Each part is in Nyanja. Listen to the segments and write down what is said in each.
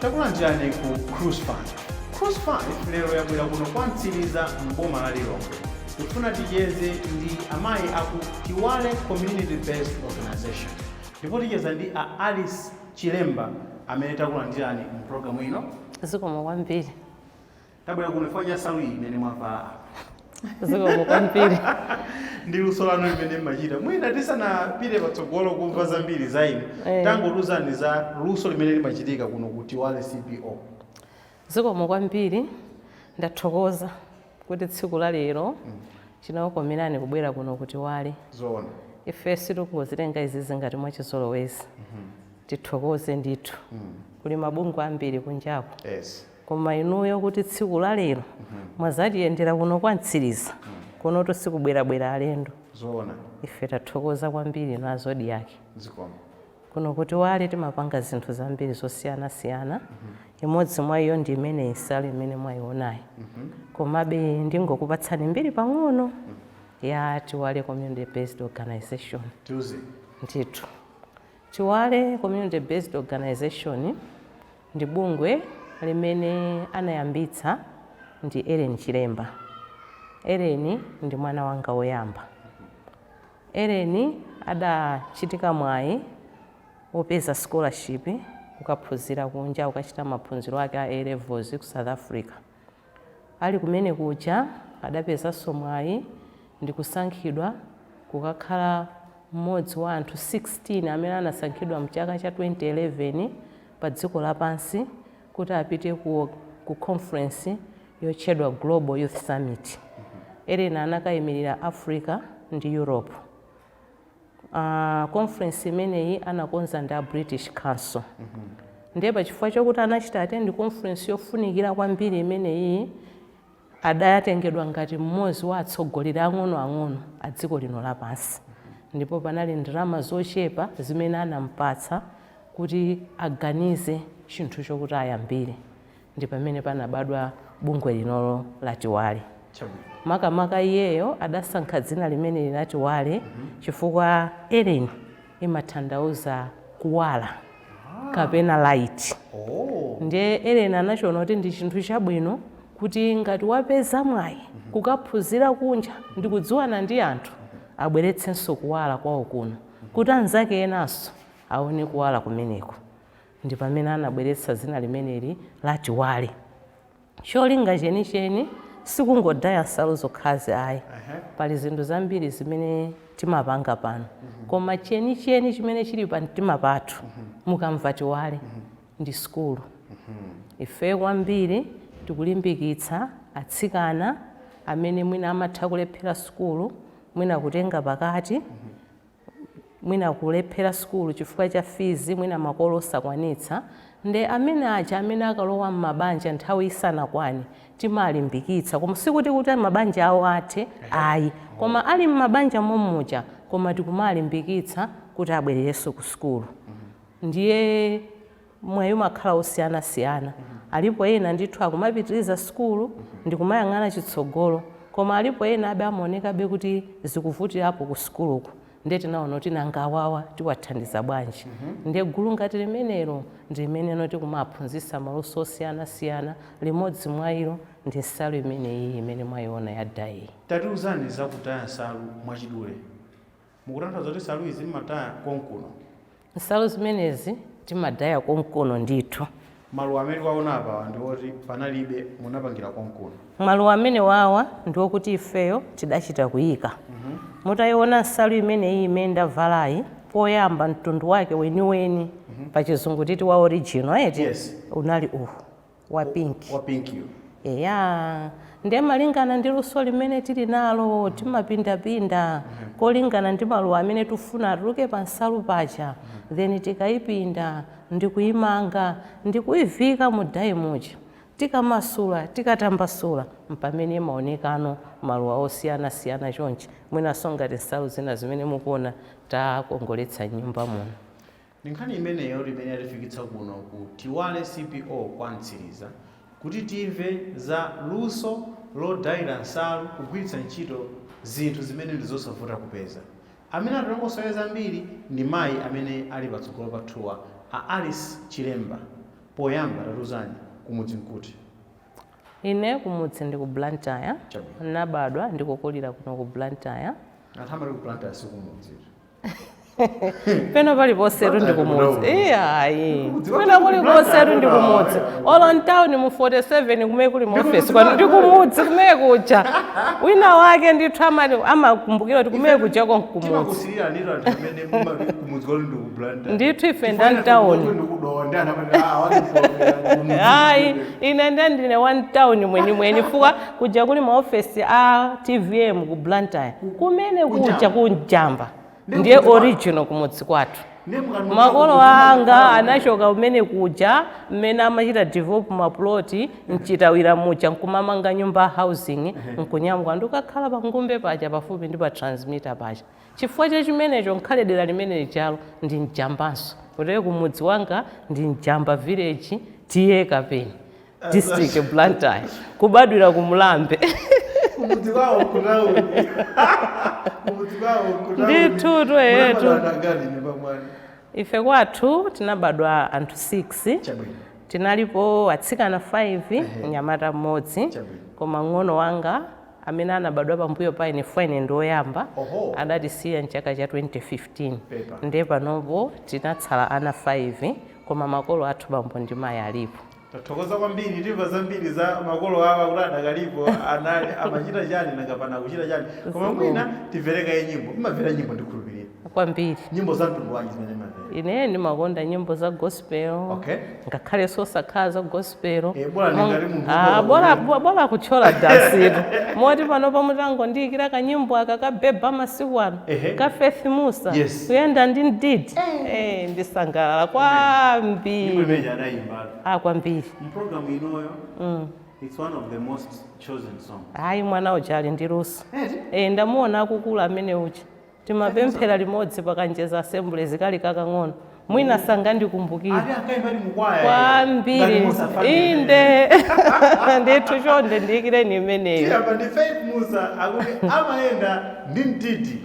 takulandirani ku cruise 5 cruise 5 lero yabwera kuno kwa mtsiliza m'boma la lilongwe Tikufuna ticheze ndi amayi aku Tiwale Community Based Organization ndipo ticheza ndi a Alice Chilemba amene takulandirani mu program ino. Zikomo kwambiri. Tabwera kuno chifukwa cha nsalu iyi imene mwavala apa. Zikomo kwambiri. Ndi luso lanu limene mmachita. Mwina tisanapite patsogolo kumva zambiri za inu, Eh. tangotiuzani za luso limene limachitika kuno ku Tiwale CBO. Zikomo kwambiri. Ndathokoza. kuti tsiku la lero chinawakomerani kubwera kuno ku Tiwale. Zoona. Ife sitingozitenga izizi ngati mwachizolowezi. Tithokoze ndithu. Kuli mabungwe ambiri kunjaku. Yes. Koma inuyo kuti tsiku la lero mwazatiyendera kuno kwa Mtsiliza. Kunotu sikubwerabwera alendo. Zoona. Ife tathokoza kwambiri inu a Zodiak. Zikomo. Kuno ku Tiwale timapanga zinthu zambiri zosiyanasiyana, imodzi mwa iyo ndi imeneyi nsalu imene mwayionayi. Komabe ndingokupatsani mbiri pang'ono ya Tiwale Community Based Organization. Tiuzeni. Ndithu. Tiwale Community Based Organization ndi bungwe limene anayambitsa ndi Ellen Chilemba. Ellen ndi mwana wanga woyamba. Ellen adachitika mwayi wopeza scholarship kukaphunzira kunja kukachita maphunziro ake a A levels ku South Africa. Ali kumene kuja adapezanso mwayi ndikusankhidwa kukakhala mmodzi wa anthu 16 amene anasankhidwa mchaka cha 2011 padziko lapansi kuti apite ku ku conference yotchedwa Global Youth Summit. Ellen anakayimirira Africa ndi Europe. Uh, conference imeneyi anakonza ndi a British Council. Mm -hmm. Ndiye pa chifukwa chokuti anachita attend conference yofunikira kwambiri imeneyi Adatengedwa ngati mmodzi wa atsogoleri ang'onoang'ono a dziko lino lapansi ndipo panali ndalama zochepa zimene anampatsa kuti aganize chinthu chokuti ayambire ndi pamene panabadwa bungwe linolo la Tiwale. Makamaka iyeyo adasankha dzina limeneli la Tiwale chifukwa Ellen imatanthauza kuwala kapena light nde Ellen anachiona kuti ndi chinthu chabwino kuti ngati wapeza mwayi kukaphunzira kunja ndikudziwana ndi anthu abweretsenso kuwala kwawo kuno kuti anzake enanso aone kuwala kumeneku ndipamene anabweretsa dzina limeneli la Tiwale. Cholinga chenicheni si kungodaya nsalu zokhazi ayi. Pali zinthu zambiri zimene timapanga pano. Koma chenicheni chimene chili pamtima pathu, mukamva Tiwale, ndi sukulu. Ife kwambiri tikulimbikitsa atsikana amene mwina amatha kulephera sukulu, mwina kutenga pakati, mwina kulephera sukulu chifukwa cha fizi, mwina makolo osakwanitsa, nde amene aja amene akalowa mmabanja nthawi isanakwane timalimbikitsa koma sikuti kuti mabanja awo athe ayi koma ali mmabanja mommuja koma tikumalimbikitsa kuti abwererenso ku sukulu ndiye mwayi umakhala wosiyanasiyana. Alipo ena ndithu akumapitiriza sukulu ndi kumayang'ana chitsogolo koma alipo enabe amaonekabe kuti zikuvutirapo ku sukuluku ndiye tinaona kuti nanga awawa tiwathandiza bwanji? Ndiye gulu ngati limenelo ndi limene tikumaphunzitsa maluso osiyanasiyana, limodzi mwa ilo ndi nsalu imeneyiyi imene mwaiona ya dayeyi. Tatiuzani za kudaya nsalu mwachidule. Mukutanthauza kuti nsalu izi mmadaya konkuno? Nsalu zimenezi timadaya konkuno ndithu. Maluwa amene tawaona apawa ndi oti panalibe, munapangira konkuno? Maluwa amenewawa ndi okuti ifeyo tidachita kuika. Mutaiona nsalu imeneyi imene ndavalayi, poyamba mtundu wake weniweni, pachizungu titi wa original eti, unali uwu. wa pink. wa pink yo. Eya, nde malingana ndi luso limene tili nalo timapindapinda kolingana ndi maluwa amene tufuna atuluke pa nsalu paja then tikaipinda ndikuimanga ndikuiviika mu dye muja tikamasula, tikatambasula mpamene imaonekano maluwa osiyanasiyana chonchi mwinanso ngati nsalu zina zimene mukuona takongoletsa m'nyumba muno. Ndi nkhani imeneyo imene yatifikitsa kuno ku Tiwale CBO kwa Mtsiriza kuti timve za luso lodayira nsalu kugwiritsa ntchito zinthu zimene ndi zosavuta kupeza. Amene atilongosolere zambiri ndi mayi amene ali patsogolo pathuwa a Ellen Chilemba. Poyamba tatiuzani kumudzi nkuti? Ine kumudzi ndi ku Blantyre. Chabwino. Ndinabadwa ndi kukulira kuno ku Blantyre. Anthu amati ku Blantyre si kumudzi eti? pena paliponsetu ndi kumudzi iyayi kwina kulikonsetu ndi kumudzi olo mtawuni mu 47 kumene kuli mu ofesi kwanu ndi kumudzi kumene kuja wina wake ndithu amati- amakumbukira kuti kumene kuja konkumudzi timakusilira ndito anthu amene mumati kumudzi kwanu ndi ku blantyre ndithu ife nda mtawuni ayi ine nde ndine wa mtawuni mwenimweni chifukwa Kuja kuli ma office a tvm ku Blantyre kumene kuja ku Njamba ndiye original kumudzi kwathu. Makolo anga anachoka kumene kuja mmene amachita develop ma plot mchitawira muja nkumamanga nyumba a housing nkunyamuka ndikukakhala pa Ngumbe paja pafupi ndi pa transmitter paja. Chifukwa cha chimenecho ngakhale dera limene lijalo ndi Njambanso. Kotero kumudzi kwanga ndi Njamba village TA Kapeni. district blantyre kubadwira ku mlambe Kumudzi kwawo kunauli. Kumudzi kwawo kunauli. Ndithu tu, eh, Mwana tu. mwana angati nyumba mwanu. ife kwathu tinabadwa anthu 6 Chabwino. tinalipo atsikana 5 mnyamata mmodzi Chabwino. koma mng'ono wanga amene anabadwa pambuyo pa ine ifeyo ine ndi woyamba Oho. adatisiya mchaka cha 2015 Pepa. ndiye panopo tinatsala ana 5 koma makolo athu bambo ndi mayi alipo Tathokoza kwambiri timva zambiri za makolo awa kuti adakalipo anali amachita chani nanga pano akuchita chani koma Zikomo. mwina timvere kaye nyimbo mmamvera nyimbo ndikhulupirira kwambiri nyimbo za mtundu wanji zimene mmamvera ine ndimakonda nyimbo za gospel Okay. ngakhalenso osakhala za gospel Eh, bora Mo- ndingati munthu Ah, ukhoza bora- kuimba. bo- bora kutchola dansitu moti pano pamutangondiyikira kanyimbo aka kabeba masiku ano Ehe. ka faith mussa Yes. kuyenda ndi mdidi Eh, ndisangalala kwambiri Nyimbo imene adayimba ah kwambiri Programu inoyo. It's one of the most chosen songs. hayi mwana uja ali ndi luso e, ndamuona akukula amene uja timapemphera limodzi pakanjeza assembly chikadali kakang'ono mwina sangandikumbukire Ake ankaimba ndi mukwaya. kwambiri Ngati Musa Faki. inde ndithu chonde ndiyikireni imeneyo Tiyamba ndi Faith Mussa akuti amayenda ndi mdidi.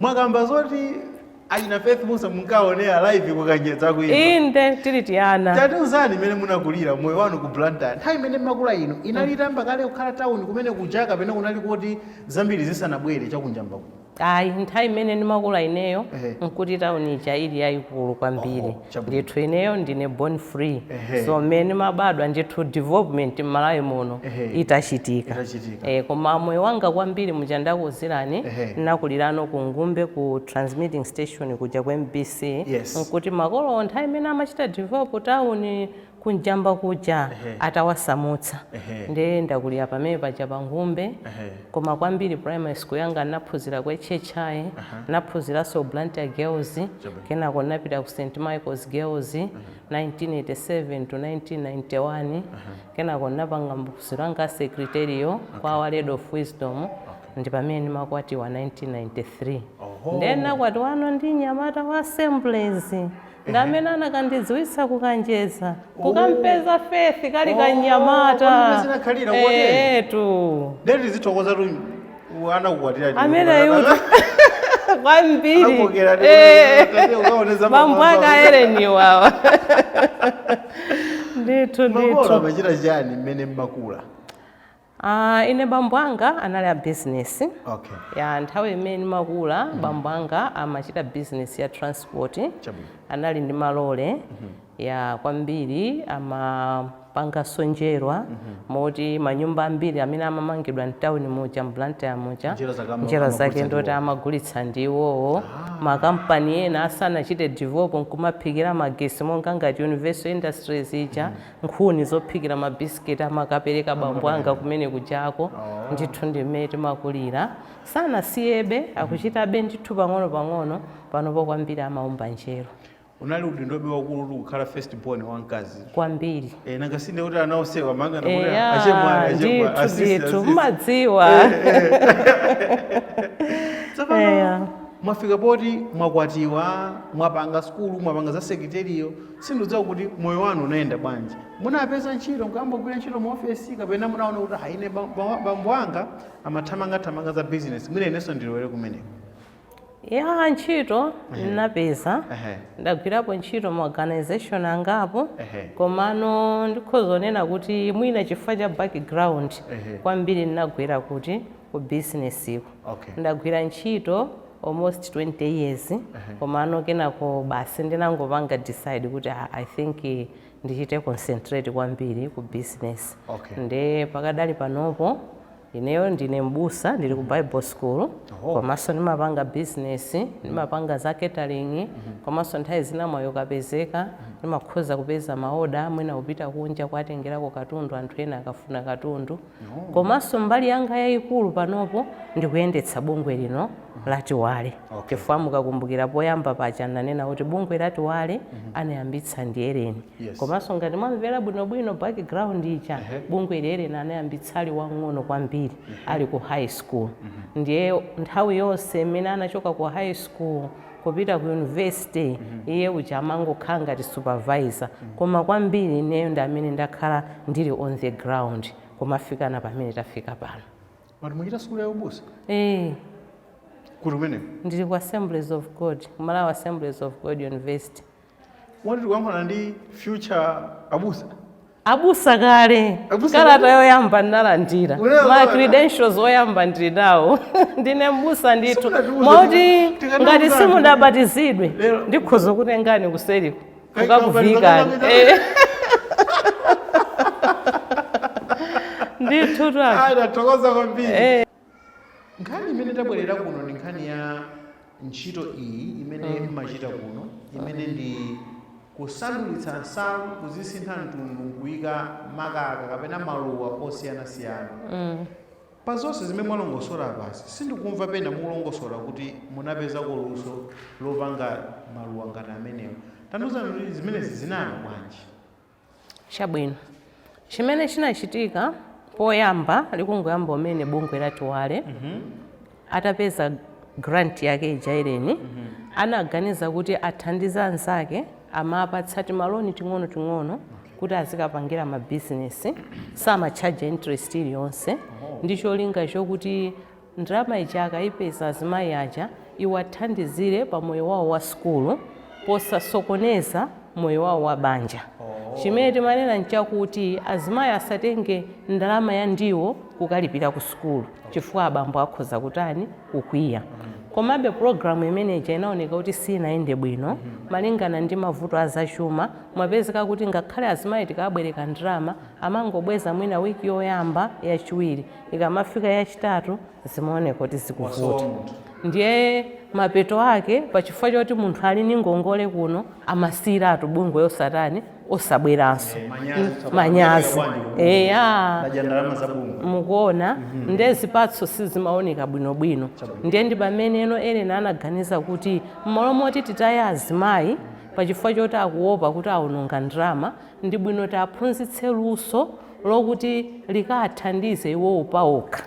mwakamba zoti achina faith mussa munkaonera live kukanjedza kuimba inde tili tiana tatiuzani mmene munakulira moyo wanu ku blantyre nthawi imene mmakula inu inali itayamba kale kukhala tawuni kumene kuja kapena kunali kuti zambiri zisanabwere chakunjamba kuno ayi nthawi imene ndimakula ineyo Ehe. nkuti tauni ija ili yayikulu kwambiri Chabwino. Ndithu ineyo ndine born free Ehe. so mmene ndimabadwa ndithu development m'Malawi muno Ehe. itachitika Itachitika. Eh, koma moyo wanga kwambiri muja ndakuuzirani Ehe. ndinakulirano ku Ngumbe ku transmitting station kuja ku MBC Yes. nkuti makolowo nthawi imene amachita develop town ku Njamba kuja atawasamutsa nde ndakulira pamene paja pa Ngumbe koma kwambiri primary school yanga ndinaphunzira ku HHI ndinaphunziranso ku Blantyre Girls kenako ndinapita ku St Michaels Girls 1987 to 1991 kenako ndinapanga maphunziro anga a Secretarial kwa Our Lady of Wisdom ndipamene ndimakwatiwa 1993 nde ndinakwatiwano ndi mnyamata wa Assemblies. ndi amene anakandidziwitsa kukanjeza kukampeza Faith kali Oh, kanyamata kodi mmene zinakhalira Eh, kotero? etu Ndiye tizithokozatu anakukwatira ndi- ameneyu kwambiri Anakokera ndi- Eh. kuti ukaoneza bambo mamazo. ake a Ellen wawa ndithu Makolo ndithu amachita chani mmene mmakula? Aaa ine bambo anga anali a business Okay. ya nthawi imene ndimakula bambo anga amachita business ya transport Chabwino. anali ndi malole ya kwambiri amapanganso njerwa moti manyumba ambiri amene amamangidwa mtawuni muja m'Blantyre muja Njerwa zake ama- njerwa amagulitsa zake ndoti ndiwo. amagulitsa ndi iwowo makampani ena asanachite develop nkumaphikira magesi monga ngati universal industries ija nkhuni zophikira ma bisiketi amakapereka bambo anga kumene kujako ndithu ndi mmene timakulira sanasiyebe akuchitabe ndithu pang'ono pang'ono panopo kwambiri amaumba njerwa unali udindobe waukulutu kukhala first born wamkazi kwambiri Eh, nanga sinde kuti ana onsewa amangonena kuti Eya, achemwali ndithu achemwali asisi ndithu asisi mumadziwa tsopano Eya. mwafika poti mwakwatiwa mwapanga skulu mwapanga za secretarial Sindudziwa kuti moyo wanu unayenda bwanji. Munapeza ntchito nkuyamba kugwira ntchito mu office kapena munaona kuti ha ine ba- ba- bambo anga amathamanga thamanga za business mwina inenso ndilowere kumeneko. ya ntchito ndinapeza Ehe. ndagwirapo ntchito mu organization angapo Ehe. komano ndikhoza kunena kuti mwina chifukwa cha background Ehe. kwambiri ndinagwera kuti ku business ko Okay. ndagwira ntchito almost 20 years komano kenako basi ndinangopanga decide kuti ah, i think eh, ndichite concentrate kwambiri ku business Okay. nde pakadali panopo ineyo ndine mbusa ndili ku bible school komanso ndimapanga business ndimapanga za catering komanso nthawi zina mwayi ukapezeka ndimakhoza kupeza maoda mwina kupita kunja kuwatengerako katundu anthu ena akafuna katundu Komanso mbali yanga yaikulu panopo ndi kuyendetsa bungwe lino la Tiwale. Chifukwa mukakumbukira poyamba paja ndinanena kuti bungwe la Tiwale anayambitsa ndi Ellen. Komanso ngati mwamvera bwinobwino background ija, bungweli Ellen anayambitsa ali wamng'ono kwambiri, ali ku high school. Ndiye nthawi yonse imene anachoka ku high school, kupita ku university iye uja amangokhala ngati supervisor koma kwambiri ineyo ndi amene ndakhala ndili on the ground kumafikana pamene tafika pano Mwati muchita sukulu ya ubusa eh kuti kumeneko ndili ku assemblies of god malawi assemblies of god university Moti tikuyankhulana ndi future abusa. Abusa kale. Abusa kale. Kalata yoyamba ndinalandira. Unayo Ma kalata? credentials oyamba ndili nawo. Ndine mbusa ndithu. Simunatiuze Moti kuti tikadauza ngati anthu. simudabatizidwe Lero- ndikhoza kutengani kuseliko. Kai- Kukakuvikani. kabatizana Eh. kapita- Ndithu tu. Ayi, tathokoza kwambiri. Nkhani imene tabwerera kuno ndi nkhani ya ntchito iyi imene mmachita kuno imene ndi kusandulitsa nsalu kuzisintha mtundu nkuyika makaka kapena maluwa osiyanasiyana mm. pa zonse zimene mwalongosola apazi sindikumva pena mulongosola kuti munapezako luso lopanga maluwa ngati amenewo tandiuzani kuti zimenezi zinayamba bwanji Chabwino, chimene chinachitika poyamba likungoyamba kumene bungwe la Tiwale atapeza grant yake ija Ellen anaganiza kuti athandize anzake amapatsa timaloni ting'onoting'ono kuti azikapangira mabizinesi samatchaja interest iliyonse ndi cholinga chokuti Ndalama ija akaipeza azimayi aja iwathandizire pa moyo wawo wa sukulu posasokoneza moyo wawo wa banja. Chimene timanena nchakuti azimayi asatenge ndalama ya ndiwo kukalipira ku sukulu chifukwa abambo akhoza kutani? Kukwiya. Komabe pulogalamu imene ija inaoneka kuti siinayende bwino malingana ndi mavuto a zachuma. Mumapezeka kuti ngakhale azimayi tikawabwereka ndalama amangobweza mwina wiki yoyamba, yachiwiri. Ikamafika yachitatu zimaoneka kuti Wasowa zikuvuta munthu. ndiye mapeto ake pachifukwa choti munthu ali ndi ngongole kuno amasiyiratu bungwe osatani osabweranso Eh, manyazi Mm, tsopano. manyazi Kubwera kwandi kuno. eya Ndadya ndalama za bungwe. mukuona ndiye zipatso sizimaoneka bwinobwino ndiye ndi pameneno Ellen anaganiza kuti mmalo moti titaye azimayi pachifukwa choti akuopa kuti awononga ndalama ndi bwino tiaphunzitse luso lokuti likaathandize iwowo paokha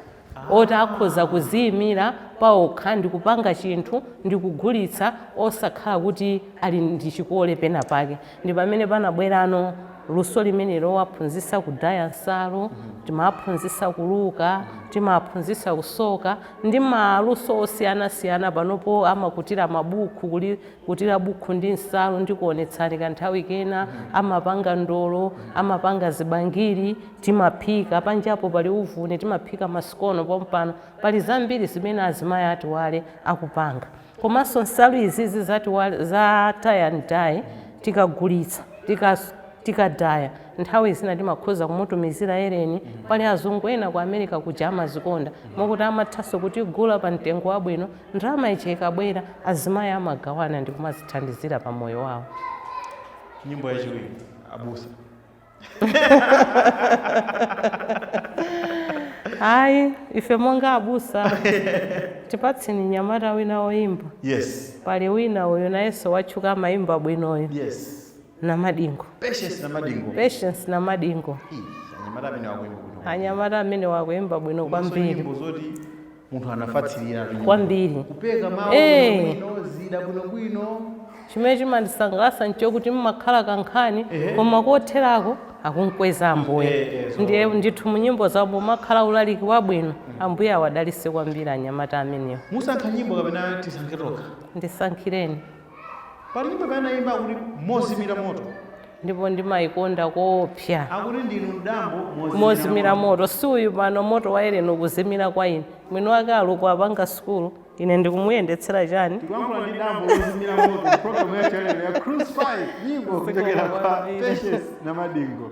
oti akhoza kuziyimira paokha ndi kupanga chinthu ndi kugulitsa osakhala kuti ali ndi chikole pena pake ndi pamene panabwerano luso limene lowaphunzitsa kudaya nsalu timaphunzitsa kuluka timaphunzitsa kusoka ndi maluso osiyanasiyana panopo amakutira mabuku kuli kutira bukhu ndi nsalu ndikuonetsani kanthawi kena amapanga ndolo amapanga zibangiri timaphika panjapo pali uvuni timaphika masikono pompano pali zambiri zimene azimayi a tiwale akupanga komanso nsalu izizi za tiwale za tie and dye tikagulitsa tika tikadaya nthawi zina timakhoza kumutumizira eleni pali azungu ena ku america kuja amazikonda mokuti amathanso kutigula pa mtengo wabwino Ndalama ija ikabwera, azimayi amagawana ndi kumazithandizira pa moyo wawo. Nyimbo yachiwiri abusa. Ayi, ife monga abusa tipatseni mnyamata wina woyimba. Yes. Pali wina uyu nayenso watchuka amayimba bwino uyu. Yes. Namadingo. Patience Namadingo. Patience Namadingo. Ih, anyamata amene wakuyimba bwino. Anyamata amene wakuyimba bwino kwambiri. Nyimbo zoti munthu anafatsirira tu nyimbo. kwambiri kupeka mawu Eh. bwinobwino zida bwinobwino chimene chimandisangalatsa nchokuti mmakhala kankhani Ehe. koma kotherako akumkweza Eh, eh, ambuye so- ndiye ndithu mu nyimbo zawo mumakhala ulaliki wabwino ambuye awadalitse kwambiri anyamata amenewo musankha nyimbo kapena tisankhe tokha ndisankhireni pali ina anayimba akuti mozimira moto ndipo ndimayikonda koopsa akuti ndinu mdambo mozimira moto si uyu pano moto wa eleni ukuzimira kwa ine mwini wake ali uku apanga sukulu ine ndikumuyendetsera chani tikuyankhula ndi dambo lozimira moto programu ya channel ya cruise 5 nyimbo kuchokera kwa patience namadingo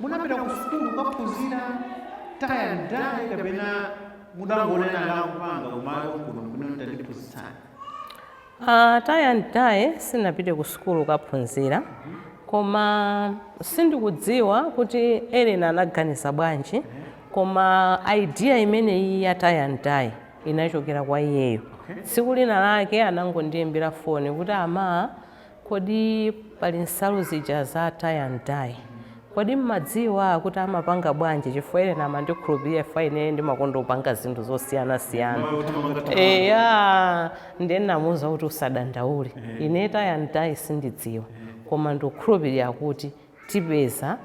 munapita ku sukulu kukaphunzira tie and dye kapena mudangonena ndakupanga kumalo kuno kuno tandiphunzitsani Uh, tie and dye sinapite ku sukulu kukaphunzira koma sindikudziwa kuti eleni anaganiza bwanji koma idea imeneyi ya tie and dye inachokera kwa iyeyo tsiku lina lake anangondiyimbira foni kuti ama Kodi pali nsalu zija za tie and dye kodi mmadziwa kuti amapanga bwanji chifukwa Eleni amandikhulupilira chifukwa ine ndimakonda kupanga zinthu zosiyana siyana eya ndiye ndinamuuza kuti usadandaule ine tie and dye sindidziwa koma ndikukhulupilira kuti tipeza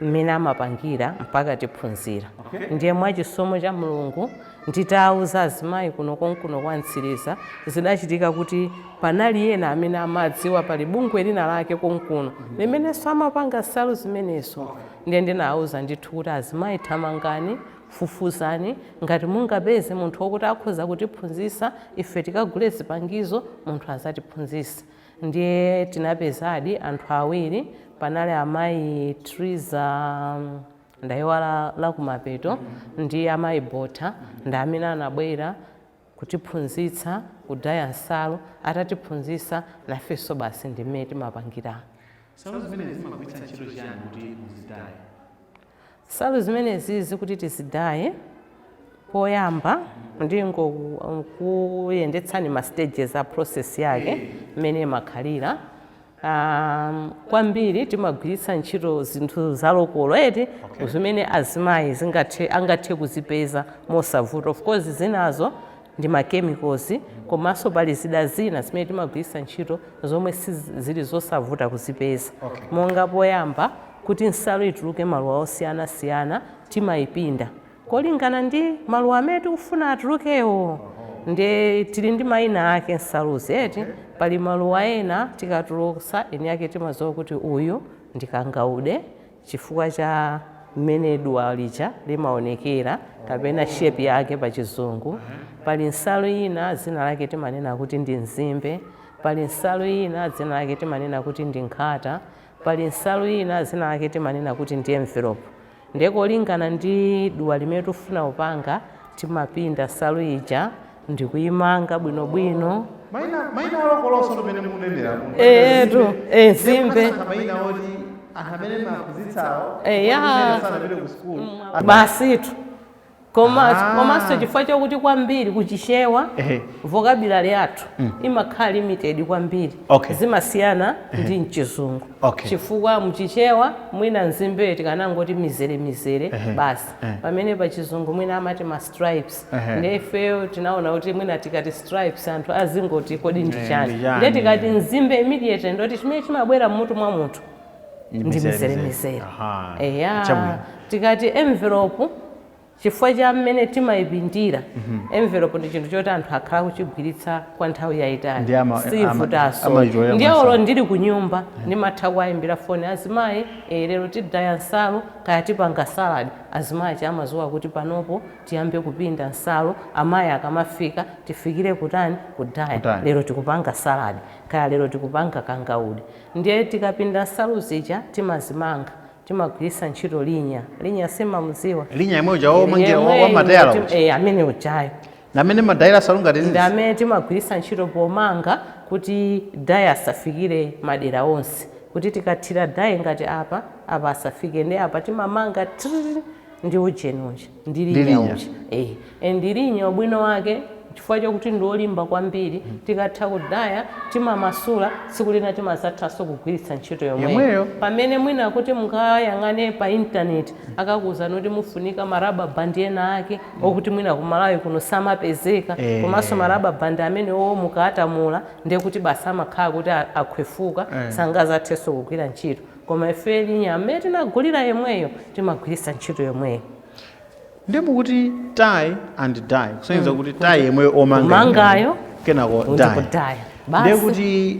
mmene amapangira mpaka tiphunzira ndiye mwachisomo cha Mulungu nditauza azimayi kuno konkuno kwa Mtsiliza zidachitika kuti panali ena amene amadziwa pali bungwe lina lake konkuno limenenso amapanga nsalu zimenezo ndiye ndinauza ndithu kuti azimayi thamangani fufuzani ngati mungapeze munthu wokuti akhoza kutiphunzitsa ife tikagule zipangizo munthu azatiphunzitse Ndiye tinapezadi anthu awiri, panali amayi Triza ndaiwala la kumapeto ndi amayi Botha ndi amene anabwera kutiphunzitsa kudaya nsalu, atatiphunzitsa nafenso basi ndi mmene timapangira. Nsalu zimenezi mumagwiritsa ntchito chiyani kuti muzidaye? Nsalu zimenezizi kuti tizidaye poyamba ndingokuyendetsani ma stages a process yake mmene imakhalira um, kwambiri timagwiritsa ntchito zinthu zalokolo eti okay. zimene azimayi zingathe angathe kuzipeza mosavuta of course zinazo ndi ma chemicals komanso pali zida zina zimene timagwiritsa ntchito zomwe zili zosavuta kuzipeza Okay. monga poyamba kuti nsalu ituluke maluwa osiyana siyana timayipinda kolingana ndi maluwa amene tikufuna atulukewo nde tili ndi mayina ake nsaluzi eti pali maluwa ena tikatulutsa eni ake timadziwa kuti uyu ndi kangaude chifukwa cha mmene duwa lija limaonekera kapena shape yake pa chizungu pali nsalu ina dzina lake timanena kuti ndi nzimbe pali nsalu ina dzina lake timanena kuti ndi nkhata pali nsalu ina dzina lake timanena kuti ndi envelope ndiye kolingana ndi duwa limene tikufuna kupanga timapinda nsalu ija ndikuimanga bwinobwino maina maina alokoloso mmene mukunenera muno. Eh, etu eh, nzimbe Munasankha maina oti anthu amene mumaphunzitsawo Eh, ya. amene sanapite ku sukulu basitu koma Ah. komanso chifukwa chakuti kwambiri kuchichewa Ehe. vocabulary yathu imakhala limited kwambiri Okay. zimasiyana ndi mchizungu Okay. chifukwa mchichewa mwina nzimbeyo tikanangoti mizere mizere basi pamene pachizungu mwina amati ma stripes Ehe. ndiye ifeyo tinaona kuti mwina tikati stripes anthu azingoti kodi ndi Eh, chani ndi chani? ndiye tikati nzimbe immediately chinthu chimene chimabwera mmutu mwa munthu ndi mizeremizere Aha. eya Chabwino. tikati envelope chifukwa cha mmene timayipindira envelope ndi chinthu choti anthu akhala kuchigwiritsa kwa nthawi Ndi yayitali ama- ama- siyivutaso amayitolera ndiye masamu. olo ndili ku nyumba ndimatha kuwayimbira foni azimayi eh, lero tidaya nsalu kaya tipanga salad Azimayi aja amaziwa kuti panopo tiyambe kupinda nsalu amayi akamafika tifikire kutani kudaya Kudaya. lero tikupanga salad kaya lero tikupanga kangaude ndiye tikapinda nsalu zija timazimanga timagwirisa ntchito linya linya simamuziwa Linya yemwe uja Eri, womangira wa- yemweyu wamatayala uti- uja. eh, amene ujayo Ndi amene ma dye ansalu ngati Ndi amene timagwiritsa ntchito pomanga kuti dye asafikire madera onse. Kuti tikathira dye ngati apa, apa asafike ndiye apa timamanga thrrr ndi ujeni uja ndi Ndi linya linya. uja. Eh, ndi linya ubwino wake chifukwa chakuti ndi olimba kwambiri tikatha kudaya timamasula tsiku lina timazathanso kugwiritsa ntchito yomweyo. Yomweyo. Pamene mwina kuti mungayang'ane pa internet akakuuzani kuti mufunika ma rubber band ena ake okuti mwina ku Malawi kuno samapezeka Eh. komanso ma rubber band amenewo mukawatamula ndiye kuti basi amakhala kuti a- akhwefuka Eh. sangazathenso kugwira ntchito koma ife linya amene tinagulira yemweyo timagwiritsa ntchito yomweyo ndiye mukuti tie and dye kusonyeza kuti tie yomwe omanga Omangayo, kenako dye ndikudaya ndiye basi kuti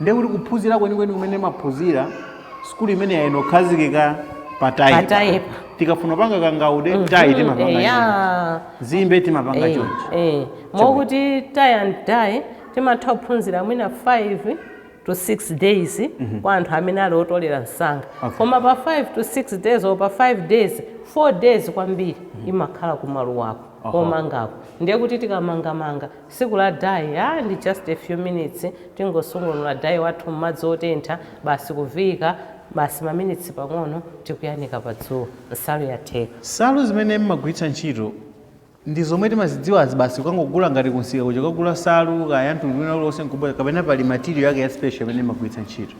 ndiye kuti kuphunzira kwenikweni kumene maphunzira sukulu imene inakhazikika pataipa Pataipa. tikafuna panga kangaude tai timapanga chonchi. eya zimbe timapanga Eh, chonchi eh. mokuti tie and dye timatha kuphunzira mwina 5 to 6 days kwa anthu amene ali otolera msanga Okay. koma pa 5 to 6 days or pa 5 days 4 days kwambiri imakhala kumaluwako Aha. komangako ndiye kuti tikamangamanga Tsiku la Dye, ah ndi just a few minutes tingosungunula dye wathu mmadzi otentha basi kuviika basi maminitsi pang'ono tikuyanika pa dzuwa nsalu yatheka. Nsalu zimene mmagwiritsa ntchito ndi zomwe timazidziwazi basi kukangogula ngati kunsika kuja kukagula nsalu kaya yamtundu wina uliwonse nkubwera kapena pali material yake ya special imene mmagwiritsa ntchito?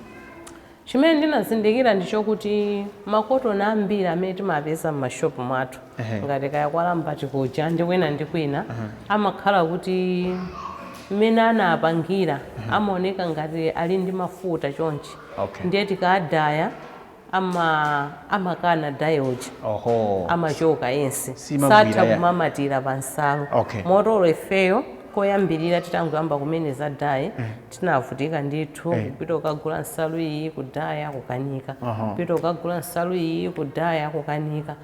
Chimene ndinazindikira ndichokuti makotoni ambiri amene timapeza mma shop mwathu ngati kaya kwa Lambat kuja ndi kwina ndi kwina amakhala kuti mmene anapangira amaoneka ngati ali ndi mafuta chonchi ndiye tikaadaya amakana dye uja amachoka yense satha kumamatira pa nsalu moti olo ifeyo koyambirira titangoyamba kumene za dye tinavutika ndithu Eh. kupita ukagula nsalu iyi kudaya kukanika Aha. kupita ukagula nsalu iyi kudaya kukanika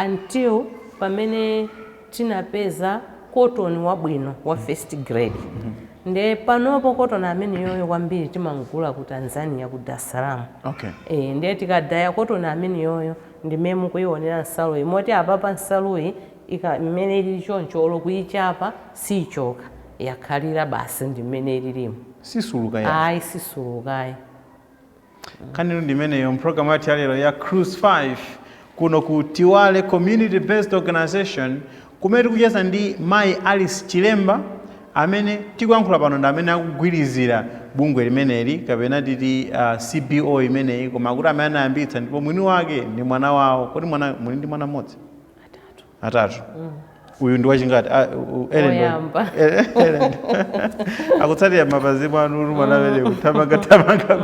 until pamene tinapeza cotton wabwino wa first grade nde panopo cotton ameneyoyo kwambiri timamgula ku tanzania ku dar es salaam okay Eh, ndiye tikadaya kotoni amene yoyo ndimene mukuionera nsaluyi moti apapa nsaluyi ika mmene ilili choncho olo kuichapa siichoka yakhalira basi ndi mmene ililimu Sisuluka yayi. ayi sisuluka ayi. Nkhanitu ndi imeneyo mpulogalamu yathu yalero ya Cruise 5 kuno ku Tiwale Community Based Organization kumene tikucheza ndi mayi Alice Chilemba amene tikuyankhula pano ndi amene akugwirizira bungwe limeneli kapena titi uh, CBO imeneyi koma akuti amene anayambitsa ndipo mwini wake ndi mwana wawo. Kodi mwana muli ndi mwana mmodzi? atatu uyu ndi wachingati Ah, u- u- Ellen ndi wa- Woyamba. Ellen- Ellen. akutsatira m'mapazi mwanu uli mwana amene akuthamanga thamanga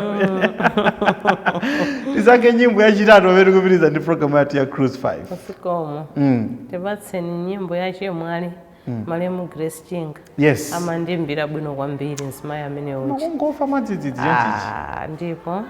tisankhe nyimbo yachitatu pamene tikupitiriza ndi programu yathu ya cruise 5 zikomo mm. tipatseni nyimbo ya chemwali malemu grace chinga yes amandimbira bwino kwambiri mzimayi amene uja kungofa mwadzidzidzi Ah, ndipo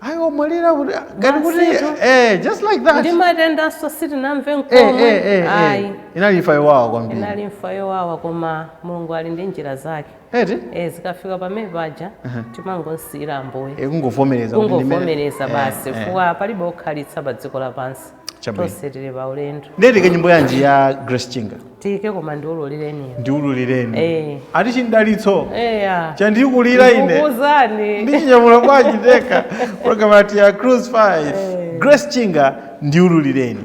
anamwalira kuti ah, ngati kuti Basitu. eh, just like that kuti matendanso sitinamve Eh, eh, eh, n'komwe eh. ayi inali imfa yowawa kwambiri inali imfa yowawa koma mulungu ali ndi njira zake eti Eh, zikafika pamene paja timangomsiyira ambuye Eh, kungovomereza kuti ndimene- kungovomereza Eh, basi eh. chifukwa palibe okhalitsa pa dziko lapansi Chabwino. tonse tili pa ulendo ndiye tiike nyimbo yanji ya grace chinga tiike koma ndiululireniyo ndiululireni Eh. ati chimdalitso eya chandikulira ine ndikukuzani ndichinyamula bwanji ndekha programu yathu ya cruise 5 grace chinga ndiululireni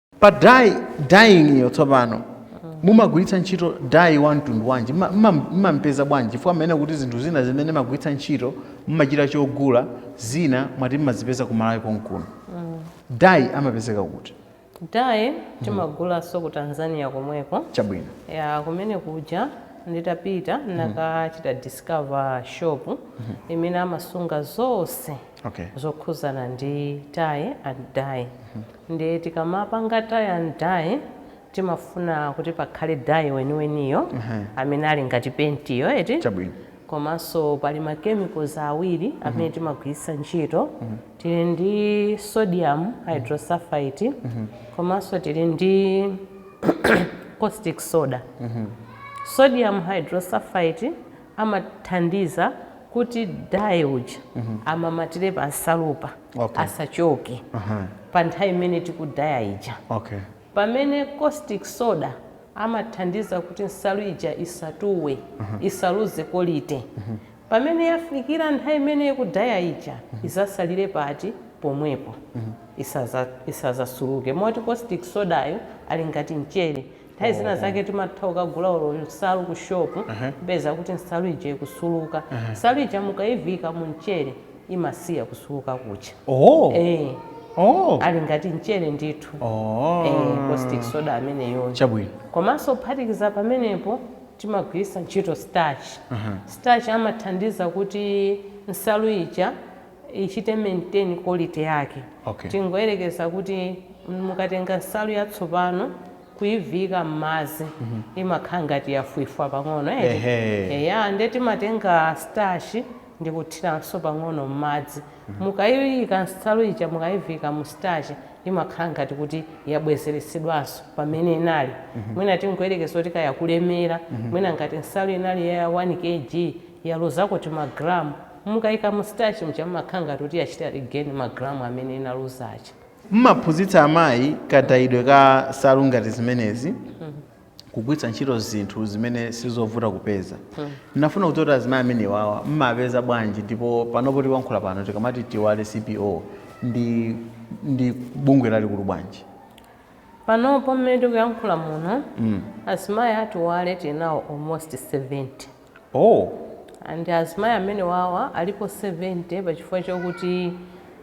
pa dye dyeing iyo tsopano mumagwiritsa ntchito dye wa mtundu wanji Mma- mma- mmampeza bwanji chifukwa mumanena kuti zinthu zina zimene mmagwiritsa ntchito mmachita chogula zina mwati mmazipeza ku malawi konkuno dye amapezeka kuti dye timagulanso ku tanzania komweko chabwino ya kumene kuja nditapita ndinakachita discover shop imene amasunga zonse okay. zokhuzana ndi tie and dye ndiye tikamapanga tie and dye timafuna kuti pakhale dye weniweniyo amene ali ngati pentiyo eti Chabwino. komanso pali ma chemicals awiri amene timagwiritsa ntchito tili ndi sodium hydrosulfite komanso tili ndi caustic soda sodium hydrosulfite amathandiza kuti dye uja amamatire pa nsalupa Okay. asachoke Aha. pa nthawi imene tikudaya ija Okay. pamene caustic soda amathandiza kuti nsalu ija isatuwe isaluze quality pamene yafikira nthawi imene ikudaya ija izatsalire pati pomwepo Isaza- isazasuluke moti caustic sodayo ali ngati mchere Nthawi zina zake timatha kukagula olo nsalu ku shop kupeza kuti nsalu ija ikusuluka. Nsalu ija mukaiviika mu mchere imasiya kusuluka kuja. Oh. Eh, Oh. ali ngati mchere ndithu. Oh. Eh, caustic soda ameneyo. Chabwino. Komanso kuphatikiza pamenepo timagwiritsa ntchito starch. Starch amathandiza kuti nsalu ija ichite maintain quality yake. Okay. Tingoyerekeza kuti mukatenga nsalu yatsopano kuiviika m'madzi mm -hmm. imakhala ngati yafwifwa pang'ono eti eya nde timatenga starch ndi kuthiranso pang'ono m'madzi mm -hmm. mukaiika nsalu ija mukaiviika mu starch imakhala ngati kuti yabwezeretsedwanso pamene inali mm -hmm. mwina tingoyerekeza kuti kaya kulemera mm -hmm. mwina ngati nsalu inali ya 1 kg yaluzako timagramu Mukaika mu starch muja mumakhala ngati kuti yachita regain ma gram amene inaluza aja. Mumaphunzitsa amayi kadayidwe ka nsalu ngati zimenezi kugwiritsa ntchito zinthu zimene sizovuta kupeza. Ndinafuna kudziwa kuti azimayi amenewawa mmawapeza bwanji ndipo panopo tikuyankhula pano tikamati Tiwale CBO ndi ndi bungwe lalikulu bwanji? Panopo mmene tikuyankhula muno azimayi a Tiwale tili nawo almost 70. Oh! And azimayi amenewawa alipo 70 pachifukwa chokuti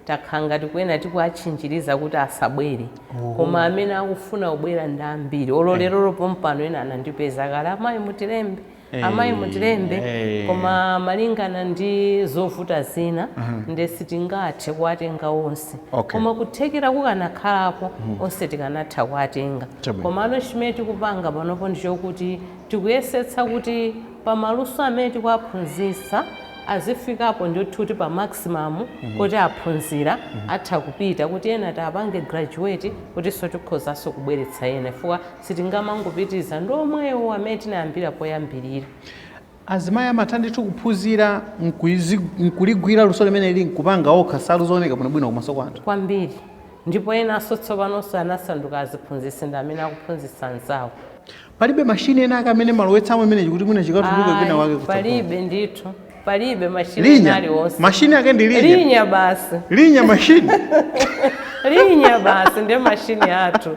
takhala ngati kwina tikuwatchinjiriza kuti asabwere oh. Koma amene akufuna kubwera ndi ambiri olo eh. lerolo eh. pompano ena anandipeza kale amayi mutilembe eh. amayi mutilembe eh. Koma malingana ndi zovuta zina uh mhm. -huh. nde sitingathe kuwatenga onse okay. Koma kuthekera kukanakhalapo uh mhm. -huh. onse tikanatha kuwatenga Koma ano chimene tikupanga panopo ndichokuti Tikuyesetsa kuti pa maluso amene tikuwaphunzitsa azifikapo ndithu kuti pa maximum poti aphunzira atha kupita kuti ena tiwapange graduate kutinso tikhozanso kubweretsa ena chifukwa sitingamangopitiriza ndi omwewo amene tinayambira poyambirira. Azimayi amatha ndithu kuphunzira n'kuligwira luso limeneli n'kupanga okha nsalu zooneka bwinobwino kumaso kwa anthu? Kwambiri ndipo enanso tsopanonso anasanduka aziphunzitsi ndi amene akuphunzitsa anzawo. palibe mashini ena ake amene mmalowetsamo imenechi kuti mwina chikatuluke kwina wake kutsogolo palibe ndithu palibe mashini linya aliwonse mashini ake ndi linya linya basi linya mashini linya basi ndiye mashini athu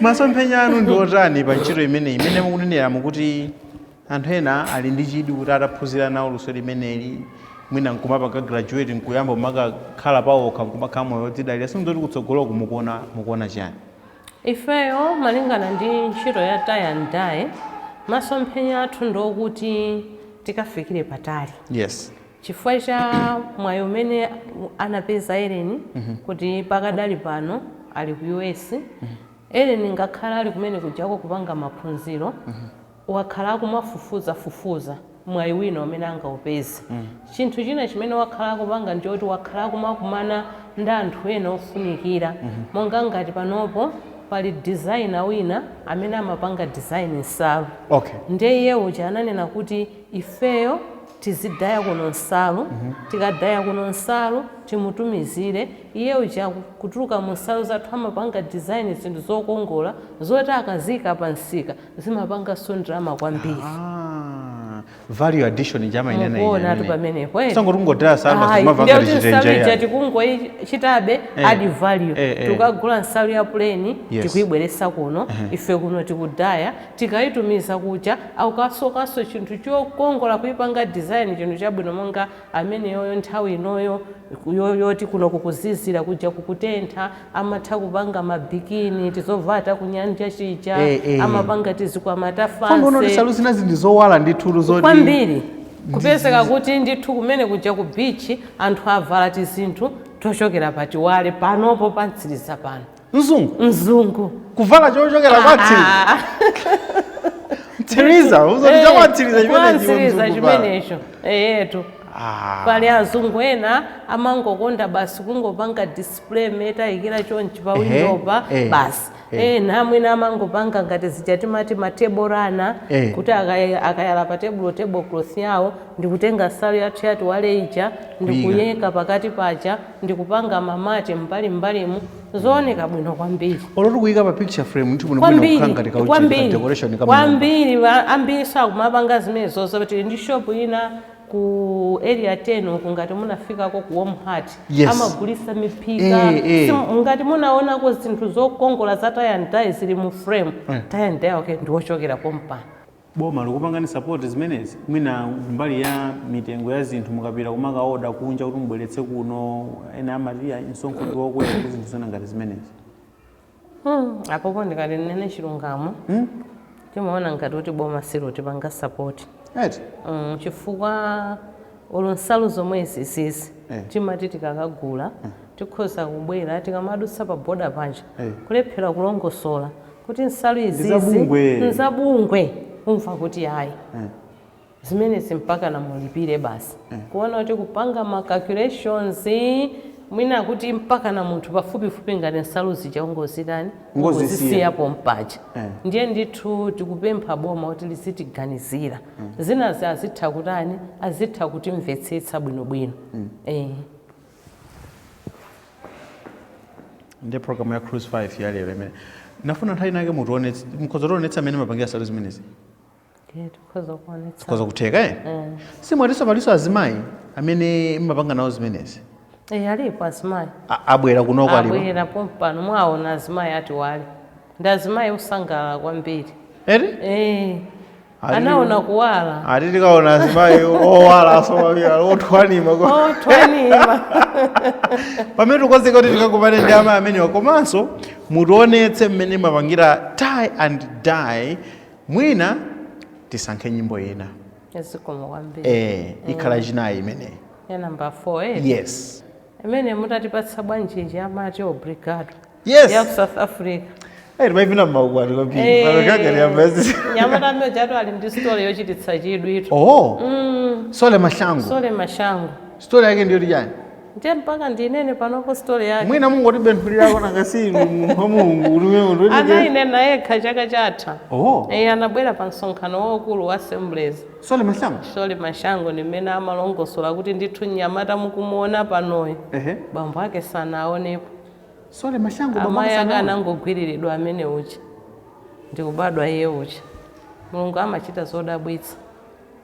masomphenya anu ndi otani pa ntchito imeneyi imene mukunenera mukuti anthu ena ali ndi chidwi kuti ataphunzira nawo luso limeneli mwina nkumapanga graduate nkuyamba kumakakhala pawokha nkumakhala moyo wodzidalira si ndi zoti kutsogoloku mukuona mukuona chani Ifeyo malingana ndi ntchito ya tie and dye masomphenya athu ndi okuti tikafikire patali Yes. chifukwa cha mwayi umene anapeza Ellen kuti pakadali pano ali ku US Ellen ngakhale ali kumene kujako kupanga maphunziro wakhala akumafufuza fufuza mwayi wina umene angaupeze. Chinthu china chimene wakhala akupanga ndi choti wakhala akumakumana ndi anthu ena ofunikira monga ngati panopo pali designer wina amene amapanga design nsalu Okay. ndiye iye uja ananena kuti ifeyo tizidaya kuno nsalu tikadaya kuno nsalu timutumizire iye uja ku- kuchokera mu nsalu zathu amapanga design zinthu zokongola zoti akaziika pa msika zimapanganso ndalama kwambiri Ah, value addition ndimanena ine mukuonatu pamenepo eti. sitikungodaya nsalu Ayi, simava ndiye ngati kuti nsalu chitenje ija yani. tikungoichitabe Eh, add value eh, eh. tikagula nsalu ya puleni Yes. tikuibweresa kuno ife kuno tikudaya tikaitumiza kuja akukasokanso chinthu chokongola kuipanga design chinthu chabwino monga ameneyoyo nthawi inoyo yo- yoti kuno kukuzizira kuja kukutentha amatha kupanga ma bikini tizovala takunyanja tija e, e. amapanga tizikwama ta fancy nsalu zinazi ndi zowala ndithu zoti kwambiri kupezeka kuti ndithu kumene kuja ku beach anthu avala tizinthu tochokera pa Tiwale panopo pa Mtsiriza pano mzungu mzungu kuvala chochokera pa Mtsiriza ah, ah, ah. Mtsiriza uzoti cha kwa Mtsiriza chimenecho chimenecho eyetu pali azungu ena amangokonda basi kungopanga frame tayikira chonchi pa Ehe, windopa eh, basi eh. ena mwina amangopanga ngati zija timati ma table runner Eh. kuti akaya- akayala pa tebulo table cloth yawo ndikutenga nsalu yathu ya Tiwale ija ndikuyika pakati paja ndikupanga ma mat mbalimbalimu zooneka bwino kwambiri olo kuyika pa picture frame ndithu muno kwambiri kukhala ngati kauchita ka kwambiri decoration ka munyumba. kwambiri va- ambiri akumapanga zimenezozo tili ndi shop ina ku area 10 uku ngati munafikako ku warm heart Yes. amagulisa miphika Eh, eh. Simu- ngati munaonako zinthu zokongola za tie and dye zili mu frame Eh. tie and dye wake ndiwochokera pompano boma likukupangani support zimenezi mwina mbali ya mitengo ya zinthu mukapita kumakaoda kunja kuti mubweretse kuno ena amati "Ayi, msonkho ndi wokwera ndi zinthu zina ngati zimenezi Hmm, apopo ndikati nnene chilungamo Hmm? timaona ngati kuti boma silotipanga sapoti Eti? mm, chifukwa olo nsalu zomwe izizizi Eh. timati tikakagula tikhoza kubwera tikamadutsa pa boda paja Eh. kulephera kulongosola kuti nsalu izizi Ndizabungwe. nzabungwe umva kuti ayi Eh. zimenezi mpakana mulipire basi kuona kuti kupanga ma calculations mwina kuti mpakana munthu pafupifupi ngati nsalu zija ungozitani Ungozisiya. ungozisiya pompaja Eh. ndiye ndithu tikupempha boma kuti lizitiganizira zinazi azitha kutani azitha kutimvetsetsa bwinobwino eh. ndi program ya cruise 5 ya lero imene ndimafuna nthawi inayake mutionetse mukhoza kutionetsa mmene mumapangira nsalu zimenezi Ndiye tikhoza kuonetsa. zikhoza kutheka eh? Eh. si mwatinso palinso azimayi amene mumapanga nawo zimenezi Eh, alipo azimayi. A- abwera kunoko alipo Abwera pompano mwaona azimayi atiwalire. Ndi azimayi osangalala kwambiri. eti Eh. Ali- Anaona kuwala. ati tikaona azimayi owala asomaphira othwanima ko- Othwanima. pamene tikonzeka kuti tikakumane ndi amayi amenewa komanso mutionetse mmene mumapangira tie and dye mwina tisankhe nyimbo ina zikomo kwambiri eh, ikhala mm. yachinayi imeneyi ya number 4 eh? yes imene mutatipatse bwanjinji amati obrigado yes. ya ku south africa timaivina mmaukwati kwambiri eh, panokagari yambazi mnyamata amene uja ati ali ndi story yochititsa chidwi eti oh mm. solly mahlangu solly mahlangu story yake ndi yoti chani ndiye mpaka ndinene panopo story yake mwina mungotibenthulirako nanga si inu munthu wa mulungu uliwe munthu weniweni. anayinena yekha chaka chatha Oh. Eh, anabwera pa msonkhano waukulu wa assemblies solly mahlangu solly mahlangu ndi mmene amalongosola kuti ndithu mnyamata mukumuona panoyu ehe bambo ake sanawaonepo solly mahlangu amayi ake bambo anangogwiriridwa amene uja ndikubadwa iye uja mulungu amachita zodabwitsa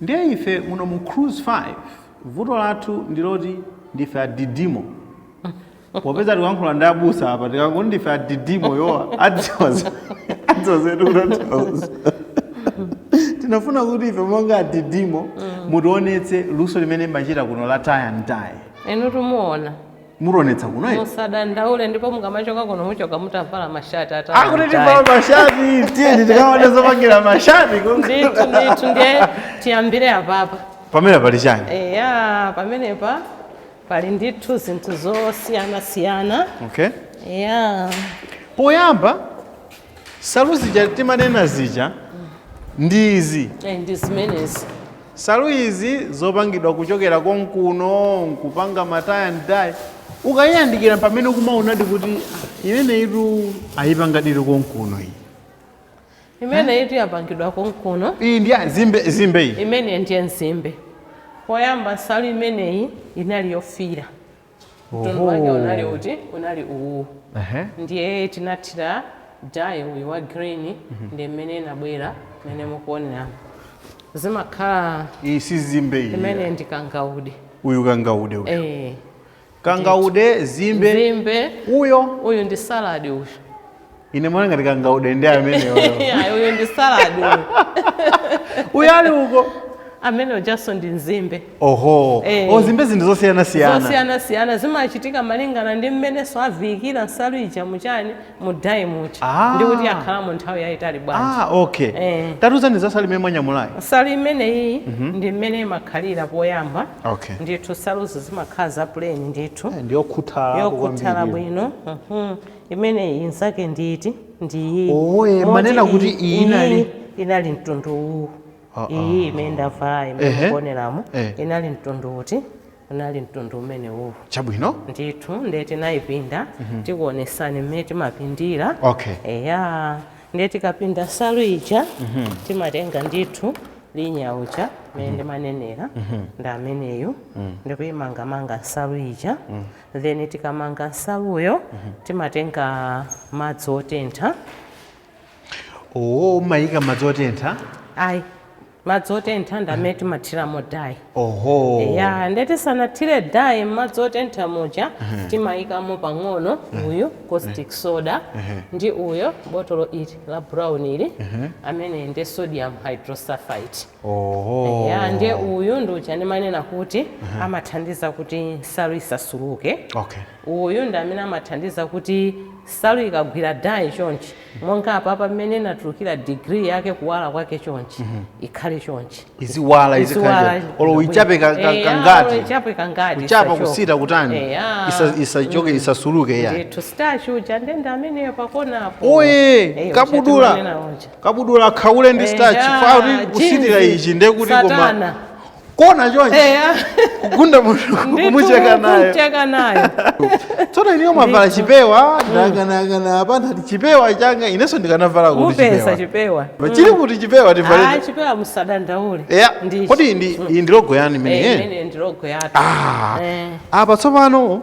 ndiye ife muno mu cruise 5 vuto lathu ndiloti ndife adidimo popeza tikuyankhula ndi abusa apa tikangoti ndife adidimo odziwa adzoza adzozetu kutanthauza tinafuna kuti ife monga adidimo mutionetse luso limene mumachita kuno la tie and dye inu timuona mutionetsa kuno eti. musadandaule ndipo mukamachoka kuno muchoka mutavala mashati ata akuti tivala mashati tiyeni tikaone zopangira mashati ndithu ndithu ndiye tiyambire apapa pamene pali chani eya pamenepa pali ndithu zinthu zosiyanasiyana okay yeah poyamba nsalu zija timanena zija ndi izi Eh, ndi zimenezi nsalu izi zopangidwa kuchokera konkuno nkupanga ma tie and dye ukayiyandikira pamene ukumaonadi kuti "Ah, imeneyitu ayipangadi konkuno iyi imene iti yapangidwa konkuno iyi ndi ya nzimbe nzimbe iyi imene ndiye nzimbe poyamba nsalu imeneyi inali yofiira mtundu wake Oho. unali uti unali uwu Ehe. ndiye tinathira dye uyu wa green ndi mmene inabwera mmene mukuonera zimakhala iyi si nzimbe iyi imene ndi kangaude uyu kangaude uyu eh kangaude nzimbe nzimbe uyo uyu ndi salad uyu ine ndimaona ngati kangaude ndi ameneyo Ayi, uyu ndi salad uyu uyo ali uko amene ujanso ndi nzimbe oho Eh. nzimbe zinthu zosiyanasiyana zosiyanasiyana zimachitika malingana ndi mmenenso aviikira nsalu ija mu chiyani mu dye muja Ah. ndi kuti yakhalamo nthawi yayitali bwanji ah okay Eh. tatiuzani za nsalu imene mwanyamulayi nsalu imeneyi ndi mmene imakhalira poyamba okay ndithu nsaluzi zimakhala za plain ndithu Eh, ndiyokhuthala yokhuthala bwino mhm. imeneyi inzake nditi ndiyi Oh, eh, Moti manena kuti iyi- iyi inali- iyi inali mtundu uwu Ah, iyi imene ndavala Ehe. imene mukuoneramo Eh. inali mtundu uti Unali mtundu umenewuwu. Chabwino. Ndithu ndiye tinayipinda tikuonesani mmene timapindira. Okay. Eya ndiye tikapinda nsalu ija timatenga ndithu linya uja mmene ndimanenera ndi ameneyu ndikuyimangamanga nsalu ija then tikamanga nsaluyo timatenga madzi otentha Oo, mumayika madzi otentha. ayi Madzi otentha ndi amene timathiramo dye. Oho. Eya, nde tisanathire dye m'madzi otentha muja timayikamo pang'ono uyu caustic soda ndi uyo botolo ili la brown ili ameneyu nde sodium hydrosulfite. Oho. Eya, nde uyu ndi uja ndimanena kuti amathandiza kuti nsalu isasuluke. Okay. Uyu ndi amene amathandiza kuti nsalu ikagwira dye chonchi monga apapa mmene inatulukira degree yake kuwala kwake chonchi ikhale chonchi iziwala izikhale olo uichape ka- ka- kangati ichape kangati kuchapa isachoke. kusita kutani Eh, ah. Isa- isachoke isasuluke ya ndithu starch uja ndendende ameneyo pakonapo okay Eh, kabudula uja timanena uja. kabudula wa khaule ndi Eh, starch ya, fauti kusitira jinzi, ichi nde kuti koma satana. kona chonchi eya kugunda munthu kumucheka nayo kumcheka nayo tsono ineyo mwavala chipewa ndaganiza apa ndati chipewa changa inenso ndikanavala kuti mupesa chipewa chipewa Pa chili kuti chipewa Ah, tivale chipewa musadandaule ya Ndichi. kodi ndi iyi ndi logo yanu Eh, imeneyi imene ndi logo yathu Ah, Eh. apa tsopano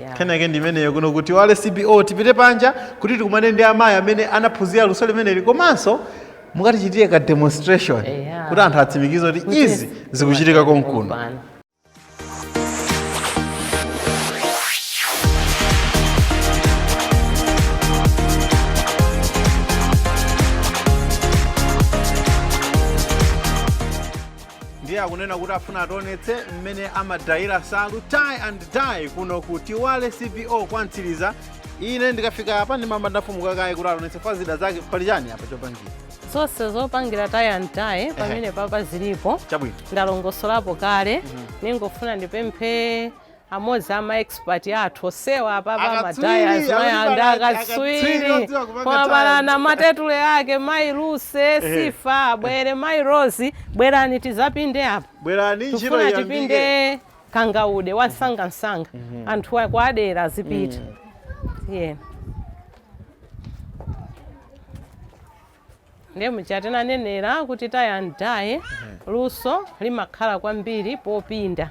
Yeah. kenako ndi imeneyo kuno ku Tiwale CBO tipite panja kuti tikumane ndi amayi amene anaphunzira luso limeneli komanso mukatichitire ka demonstration Yeah. kuti anthu atsimikize kuti Kuti izi zikuchitika konkuno Kumpano. ndiye akunena kuti afuna ationetse mmene amadayira nsalu tie and dye kuno ku Tiwale CBO kwa Mtsiriza ine ndikafika apa ndimayamba ndafufuza kaye kuti ationetse pa zida zake pali chani apa chopangira zonse zopangira tie and dye pamene papa zilipo chabwino ndalongosolapo kale ningofuna ndipemphe Amodzi a ma expert athu odziwa apapa ma dyers mwina akatswiri koma palana matetule ake mayi Lucy Sifa abwere mayi Rose bwerani tizapinde apa tikufuna tipinde kangaude wamsangamsanga mm -hmm. anthu akwa Area azipita mm. yeah. Ndiye muja tinanenera kuti tie and dye luso limakhala kwambiri popinda.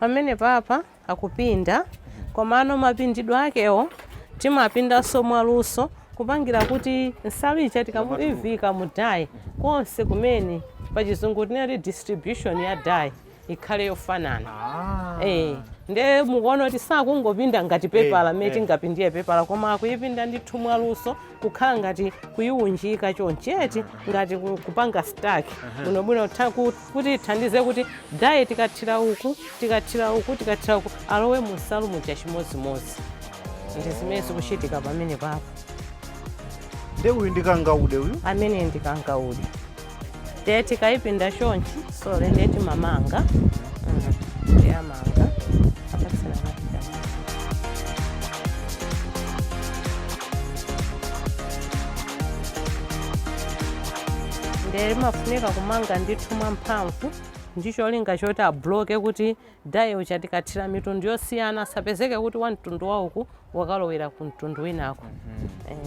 pamene papa akupinda komano mapindidwe akewo timapindanso mwaluso kupangira kuti nsalu ija tikamaiviika mu dye konse kumene pachizungu tinati distribution ya dye ikhale yofanana Ah. Eh, nde mukuona kuti sakungopinda ngati pepala Eh, mmene eh. tingapindire pepala koma akuyipinda ndithu mwaluso kukhala ngati kuyiwunjika choncheti ngati ku- kupanga stack bwinobwino tha- ku- kuti ithandize kuti dye tikathira uku tikathira uku tikathira uku alowe mu nsalu muja chimodzimodzi ndi zimene zikuchitika pamene papa Nde uyu ndi kangaude uyu. ameneyu ndi kangaude ndiye tikayipinda chonchi sorry ndiye timamanga mm, ndiye amanga apatsana machitama ndiye timafunika kumanga ndithu mwamphamvu ndi cholinga choti abloke kuti Dye uja tikathira mitundu yosiyana asapezeke kuti wa mtundu wa uku wakalowera ku mtundu winako eh.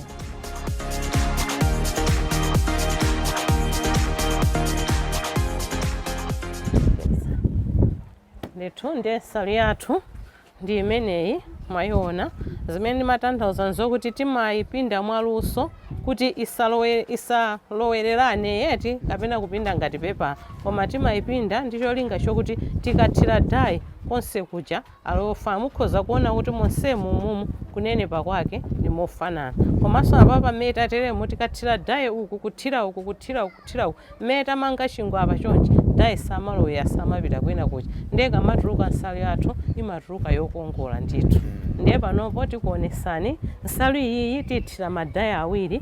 ndithu ndiye nsalu yathu ndi imeneyi mwayiona zimene ndimatanthauza nzokuti timayipinda mwaluso kuti isalowe- isalowererane yayi kapena kupinda ngati pepala koma timaipinda ndi cholinga chokuti tikathira dye konse kuja alowe fair mukhoza kuona kuti monsemu umumu kunenepa kwake ndi mofanana komanso apapa mmene tateremu tikathira dye uku kuthira uku kuthira uku kuthira uku mmene tamanga chingwe apa chonchi dye samalowera samapita kwina kuja ndiye ikamatuluka nsalu yathu imatuluka yokongola ndithu ndiye panopo tikuonesani nsalu iyiyi tiithira ma dye awiri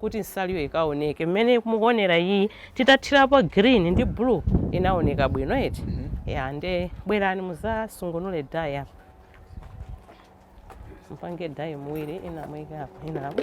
kuti nsaluyo ikaoneke mmene mukuonera iyi titathirapo green ndi blue inaoneka bwino eti ya nde bwerani muzasungunule dye apa mpange dye muwiri ina muike apa ina apa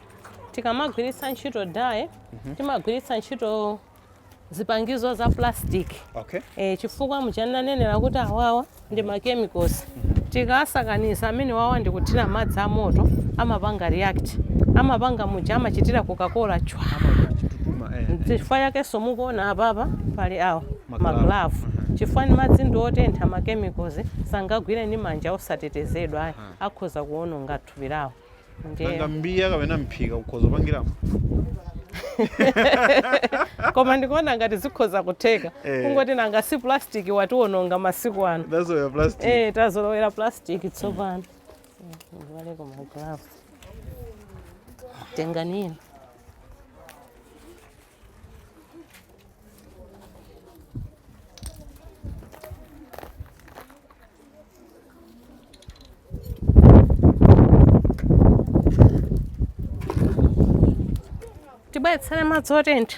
tikamagwiritsa ntchito dye timagwiritsa ntchito zipangizo za plastic okay e, chifukwa muchananenera kuti awawa ndi machemicals tikasakaniza amene wawa ndi kuthira madzi a moto amapanga react amapanga muja amachitira coca-cola chwa chitutuma eh chifukwa chakenso mukuona apapa pali awo Maglavu. maglavu chifukwa ni madzi ndi otentha machemicals sangagwire ndi manja osatetezedwa ayi akhoza kuononga thupi lawo ndiye nanga mbiya kapena mphika ukhoza kupangiramo koma ndikuona ngati zikhoza kutheka Eh. kungoti nanga si plastic watiwononga masiku ano that's why plastic eh tazolowera plastic tsopano ndivaleko maglavu tenganini tibweretsere madzi otentha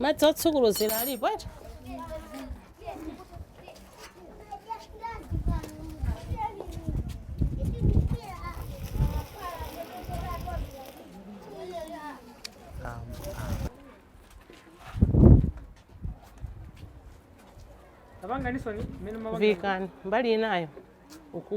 madzi otsukuluzira alipo ati apanganitseni mmene amapanga vikani mbali inayo uku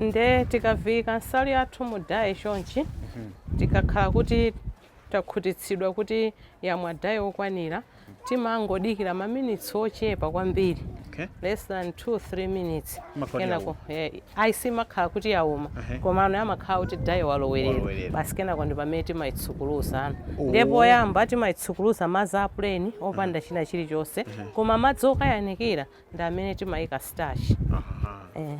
nde tikaviika nsalu yathu mu dayi chonchi tikakhala kuti takhutitsidwa kuti yamwa dye wokwanira, timangodikira maminitsi ochepa kwambiri Okay. less than 2 3 minutes kenako eh, ayi simakhala kuti yauma Ehe. komano imakhala kuti dye walowerera basi kenako ndi pamene timayitsukuluzano Oh. ndiye poyamba timayitsukuluza madzi a plain opanda china chilichonse koma madzi okayanikira ndi amene timayika starch Aha. eh.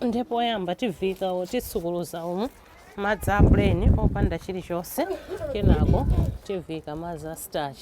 ndiye poyamba tiviika titsukuluza umu madzi a plain opanda chilichonse kenako tiviika madzi a starch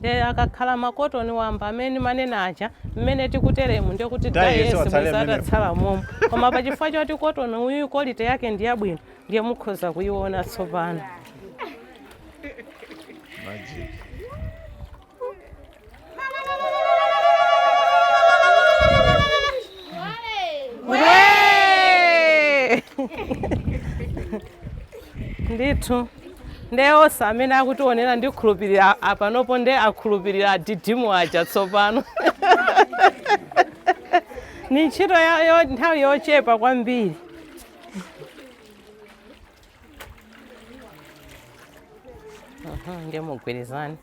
nde akakhala makotoni wamba amene ndimanena aja mmene tikuteremu ndiye kuti dye yense bwezi atatsala momo koma pa chifukwa choti kotoni uyu kolite yake ndi yabwino ndiye mukhoza kuyiona tsopano Magic. ndithu nde onse amene akutiwonera ndikhulupirira a- apanopo nde akhulupirira adidimu aja tsopano ndi ntchito ya- yo- nthawi yochepa kwambiri Mhm, nde mugwirizane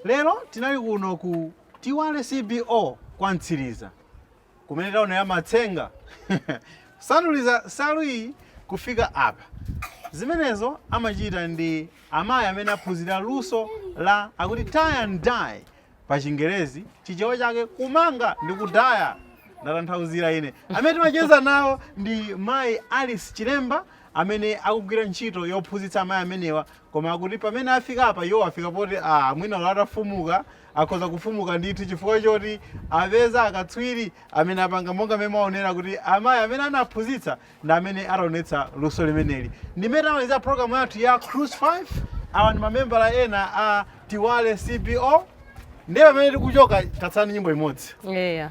lero tinali kuno ku tiwale cbo kwa mtsiriza kumene taona ya matsenga kusanduliza nsalu iyi kufika apa zimenezo amachita ndi amayi amene aphunzira luso la akuti tie and dye pa chingerezi chichewa chake kumanga ndi kudaya ndatanthauzira ine amene timacheza nawo ndi mayi ellen chilemba amene akugwira ntchito yophunzitsa amayi amenewa koma akuti pamene afika apa iwo afika poti ah, mwina ulowo atafumuka Akhoza kufumuka ndithu chifukwa choti apeza akatswiri amene apanga monga mmene mwaonera kuti amayi amene anaphunzitsa ndi amene ationetsa luso limeneli. Ndi mmene tamalizira program yathu ya Cruise 5. Awa ndi mamembala ena a Tiwale CBO. Ndiye pamene tikuchoka tatsala ndi nyimbo imodzi. Eya.